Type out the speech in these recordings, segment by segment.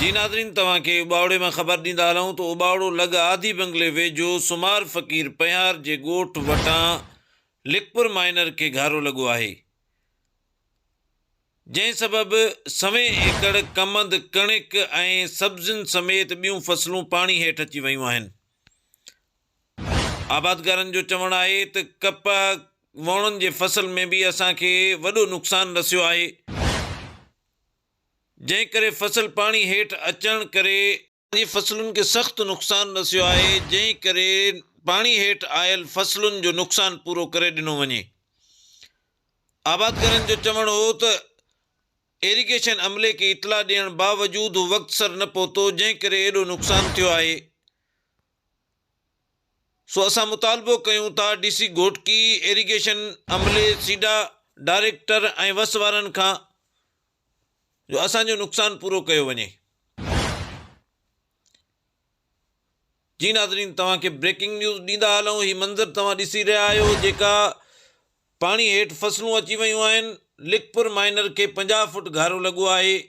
جي ناظرين توهان کي اٻاوڙي مان خبر ڏيندا هلون ته اٻاوڙو لڳ آڌي بنگلي ويجهو سومار فقير پنهار جي ڳوٺ وٽان لکپور مائنر کي گهارو لڳو آهي جنهن سبب سوين ايڪڙ ڪمند ڪڻڪ ۽ سبزين سميت ٻيون فصلون پاڻي هيٺ اچي ويون آهن آبادگارن جو چوڻ آهي ته ڪپهه ووڻن جي فصل ۾ به اسان کي وڏو نقصان رسيو آهي جنهن ڪري فصل پاڻي هيٺ اچڻ ڪري جي فصلن کي سخت نقصان رسيو آهي جنهن ڪري پاڻي هيٺ آيل فصلن جو نقصان پورو ڪري ڏنو وڃي آبادگارن جو چوڻ هو ته ايريگيشن عملي کي اطلاع ڏيڻ باوجود هو وقت سر نه پهتو جنهن ڪري ايڏو نقصان ٿيو آهي. سو اسان مطالبو ڪيون ٿا ڊي سي گهوٽڪي، ايريگيشن عملي، سيڊا ڊائريڪٽر ۽ وس وارن کان جو اسان جو نقصان پورو ڪيو وڃي. جي ناظرين توهان کي بريڪنگ نيوز ڏيندا هلون هي منظر توهان ڏسي رهيا آهيو جيڪا پاڻي هيٺ فصلون اچي ويون آهن لکپور مائنر کي پنجاهه فوٽ گهارو لڳو آهي.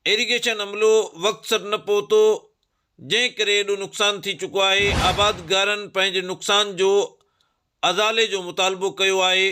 ايريگيشن عملو وقت سر نه پهتو جنهن ڪري ايڏو نقصان ٿي چڪو آهي، آبادگارن پنهنجي نقصان جو ازالي جو مطالبو ڪيو آهي.